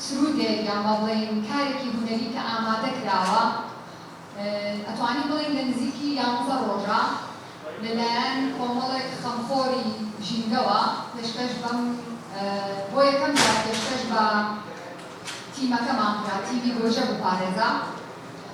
سرودێک یان با بڵێین کارێکی هونەری کە ئامادە کراوە ئەتوانین بڵێین لە نزیکی یانزە ڕۆژە لە لایەن کۆمەڵێک خەمخۆری ژینگەوە پێشکەش بەم بۆ یەکەم جار پێشکەش بە تیمەکەمان کرا تیمی گۆجە بپارێزە.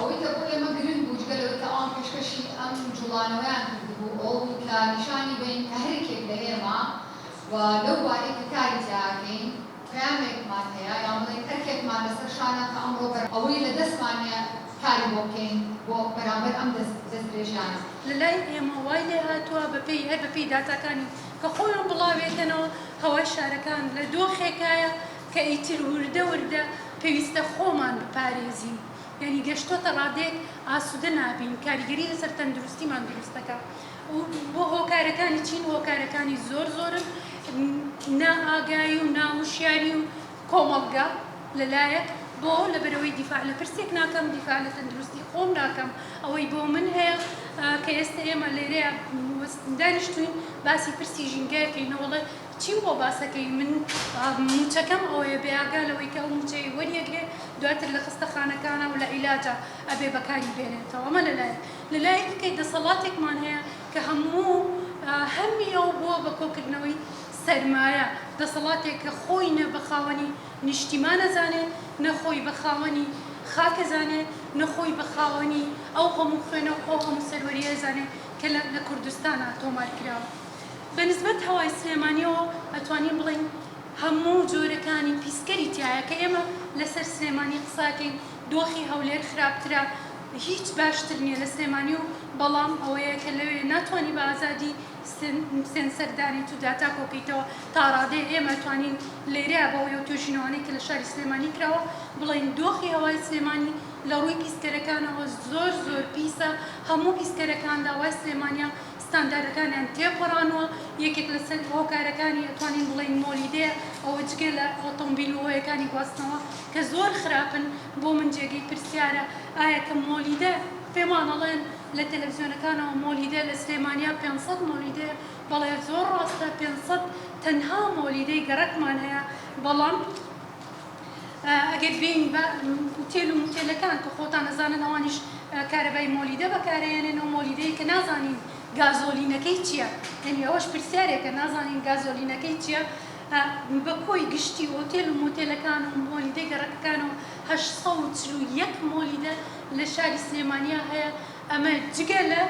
ئەوەی کە بۆ ئێمە گرنگ بوو جگە لەوەی کە ئەوان پێشکەشی ئەم جوڵانەوەیان کردبوو ئەوە بوو کە نیشانی بەین کە هەریەکێک لە ئێمە و لەو بارەی کە کاری تیا ئەکەین پەیامێکمان هەیە یان بڵێین ئەرکێکمان لەسەر شانە کە ئەمڕۆ بەر ئەوەی لە دەستمان نیە کاری بۆ بکەین بۆ بەرامبەر ئەم دەست درێژیانە. لە لای ئێمە وای لێ هاتوە بە پێی هەر بە پێی داتاکانی کە خۆیان بڵاوێکەنەوە، هەوای شارەکان لە دۆخێکایە کە ئیتر وردە وردە پێویستە خۆمان بپارێزین، یانی گەشتۆتە ڕادەیەک ئاسودە نابین، کاریگەری لەسەر تەندروستیمان دروست دەکا و هۆکارەکانی چین؟ هۆکارەکانی زۆر زۆرن، نا ئاگایی و نا وشیاری و. کۆمەڵگە لەلایەک بۆ لەبەرئەوەی دیفاع لە پرسێک ناکەم دیفاع لە تەندروستی خۆم ناکەم ئەوەی بۆ من هەیە کە ئێستە ئێمە لێرەیا دانیشتوین باسی پرسی ژینگەکەی نەوەڵێ چیم بۆ باسەکەی من موچەکەم ئەوەیە بێئاگا لەوەی کە ئەو موچەی وەریەگرێ دواتر لە خستە خانەکانە و لە عیلاجا ئەبێ بەکاری بێنێتەوە ئەمە لەلایەک لەلایەکی کەی دەسەڵاتێکمان هەیە کە هەموو هەمی ئەو بووە بە کۆکردنەوەی سەرمایە، دەسەڵاتێک کە خۆی نە بە خاوەنی نیشتیمان ئەزانێ، نە خۆی بە خاوەنی خاک ئەزانێ، نە خۆی بە خاوەنی ئەو هەموو خوێنە و ئەو هەموو سەروەرییە ئەزانێ کە لە لە کوردستانا تۆمار کراوە. بە نسبەت هەوای سلێمانییەوە ئەتوانین بڵێین هەموو جۆرەکانی پیسکەری تیایە، کە ئێمە لە سەر سلێمانی قسە ئەکەین، دۆخی هەولێر خراپترە، هیچ باشتر نییە لە سلێمانی و بەڵام ئەوەیە کە لەوێ ناتوانی بە ئازادی، سێنسەر دانێیت و داتا کۆکەیتەوە تاڕادەیەک ئێمە توانین لێرە بە هۆی ئەو توێژینەوانەی کە لە شاری سلێمانی کراوە بڵێین دۆخی هەوای سلێمانی لە ڕووی پیسکەرەکانەوە زۆر زۆر پیسە هەموو پیسکەرەکان داوای سلێمانیان ستانداردەکانیان تێپەڕانوە یەکێک لە سەر هۆکارەکانی ئەتوانین بڵێین مۆلیدەیە ئەوە جگە لە ئۆتۆمبیل و هۆیەکانی گواستنەوە کە زۆر خراپن بۆ من جێگەی پرسیارە ئایا کە مۆلیدە پێمان ئەڵێن لە تەلەفزیۆنەکانەوە مۆلیدە لە سلێمانیا پێنج سەد مۆلیدەیە بەڵێ زۆر ڕاستە پێنج سەد تەنها مۆلیدەی گەڕەکمان هەیە بەڵام ئەگەر بێین بە ئوتێل و موتێلەکان کە خۆتان ئەزانن ئەوانیش کارەبای مۆلیدە بەکارەیەنێن و مۆلیدەیە کە نازانین گازۆلینەکەی چیە یەنی ئەوەش پرسیارێکە نازانین گازۆلینەکەی چیە بە کۆی گشتی ئوتێل و موتێلەکان و مۆلیدەی گەڕەکەکانەوە هەشت سەد و چل و یەک مۆلیدە لە شاری سلێمانیا هەیە، ئەمە جگە لە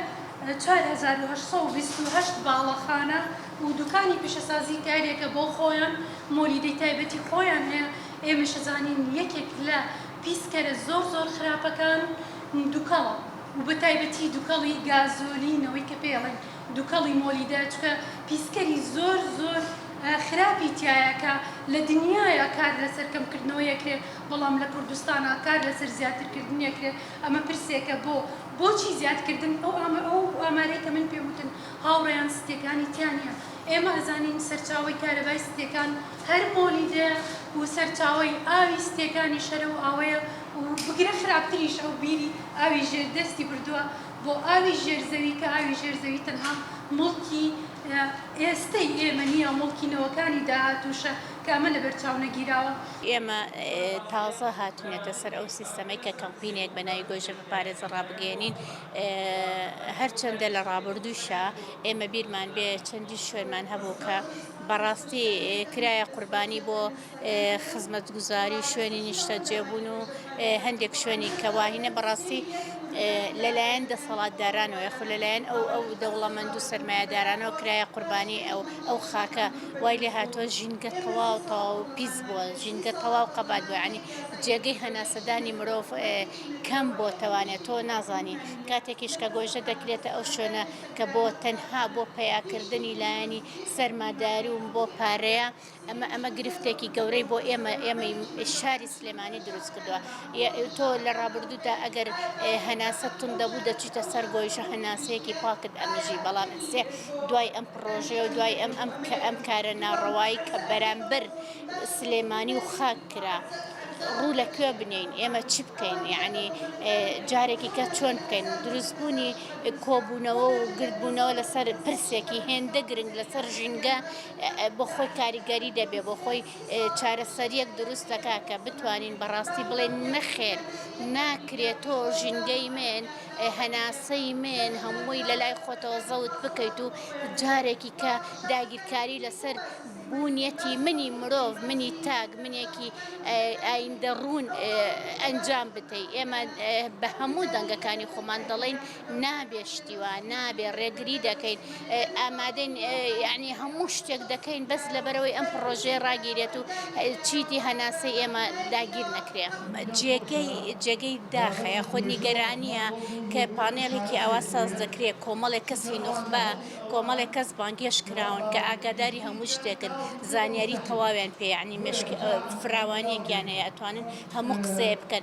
چوار هەزار و هەشت سەد و بیست و هەشت باڵەخانە و دوکانی پیشەسازی کە هەریەکە بۆ خۆیان مۆلیدەی تایبەتی خۆیان هەیە، ئێمەش ئەزانین یەکێک لە پیسکەرە زۆر زۆر خراپەکان دوکەڵە و بە تایبەتی دوکەڵی گازۆلین ئەوەی کە پێی ئەڵێن دوکەڵی مۆلیدە چونکە پیسکەری زۆر زۆر خراپی تیایە کە لە دنیایا کار لەسەر کەمکردنەوەی ئەکرێ. بەڵام لە کوردستانا کار لەسەر زیاترکردنی ئەکرێت ئەمە پرسێکە بۆ بۆچی زیادکردن ئەو ئامە ئەو ئامارەی کە من پێ وتن هاوڕێیان ستێکانی تیا نیە ئێمە ئەزانین سەرچاوەی کارەبای ستێکان هەر مۆلیدەیە و سەرچاوەی ئاوی ستێکانیش هەر ئەو ئاوەیە و بگرە خراپتریش ئەو بیری ئاوی ژێر دەستی بردوە بۆ ئاوی ژێر زەوی کە ئاوی ژێر زەوی تەنها موڵکی ئێستەی ئێمە نیە موڵکی نەوەکانی داهاتوشە کە ئەمە لەبەرچاو نەگیراوە. ئێمە تازە هاتوینەتە سەر ئەو سیستەمەی کە کەمپینێک بە ناوی گۆیژە بپارێزە ڕابگەیەنین، هەرچەندە لە ڕابوردووشا ئێمە بیرمان بێ چەندین شوێنمان هەبوو کە بەڕاستی کرایە قوربانی بۆ خزمەتگوزاری و شوێنی نیشتەجێبوون و هەندێک شوێنی کە واهینە بەڕاستی لەلایەن دەسەڵاتدارانەوە یاخود لەلایەن ئەو ئەو دەوڵەمەند و سەرمایەدارانەوە کرایە قوربانی ئەو ئەو خاکە وای لێ هاتوە ژینگە تەواو تەواو پیس بوە ژینگە تەواو قەبات بوە یانی جێگەی هەناسەدانی مرۆڤ کەم بۆ تەوانێت تۆ نازانی کاتێکیش کە گۆژە دەکرێتە ئەو شوێنە کە بۆ تەنها بۆ پیاکردنی لایەنی سەرماداری و بۆ پارەیە ئەمە ئەمە گرفتێکی گەورەی بۆ ئێمە ئێمەی شاری سلێمانی دروست کردووە تۆ لە ڕابردوودا ئەگەر هەناسە تون دەبوو دەچیتە سەر گۆیژە هەناسەیەکی پاکت ئەمژی بەڵام سێ دوای ئەم پڕۆژەیە و دوای ئەم ئەم کە ئەم کارە ناڕەوایی کە بەرامبەر سلێمانی و خاک کرا ڕوو لە کوێ بنێین ئێمە چی بکەین یعنی جارێکی کە چۆن بکەین دروستبوونی کۆبوونەوە و گردبوونەوە لەسەر پرسێکی هێندە گرنگ لەسەر ژینگە بۆ خۆی کاریگەری دەبێ بۆ خۆی چارەسەریەک دروست دەکا کە بتوانین بەڕاستی بڵێن نەخێر ناکرێت تۆ ژینگەی من هەناسەی من هەمووی لەلای خۆتەوە زەوت بکەیت و جارێکی کە داگیرکاری لەسەر بوونیەتی منی مرۆڤ منی تاک منێکی ئایندە ڕوون ئەنجام بتەی ئێمە بە هەموو دەنگەکانی خۆمان دەڵێن نابێ شتیوا نابێ ڕێگری دەکەین ئامادەین یەعنی هەموو شتێک دەکەین بەس لەبەرەوەی ئەم پڕۆژەیە ڕاگیرێت و چیدی هەناسەی ئێمە داگیر نەکرێ. جێگەی جێگەی داخەیە خۆ نیگەرانییە کە پانێڵێکی ئاوا ساز دەکرێ کۆمەڵێک کەسی نوخبە کۆمەڵێک کەس بانگێشت کراون کە ئاگاداری هەموو شتێکن زانیاری تەواویان پێیە یەعنی مێشکی فراوانیەکیان هەیە ئەتوانن هەموو قسەیە بکەن.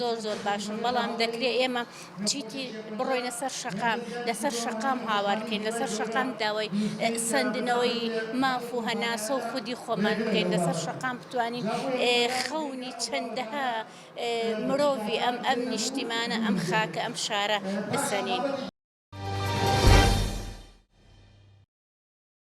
زۆر زۆر باشن بەڵام دەکرێت ئێمە چیتی بڕۆینە سەر شەقام لەسەر شەقام هاوارکەین لەسەر شەقام داوای سندنەوەی ماف و هەناسە و خودی خۆمان بکەین لەسەر شەقام بتوانین خەونی چەندەها مرۆڤی ئەم ئەم نیشتیمانە ئەم خاکە ئەم شارە بسەنین.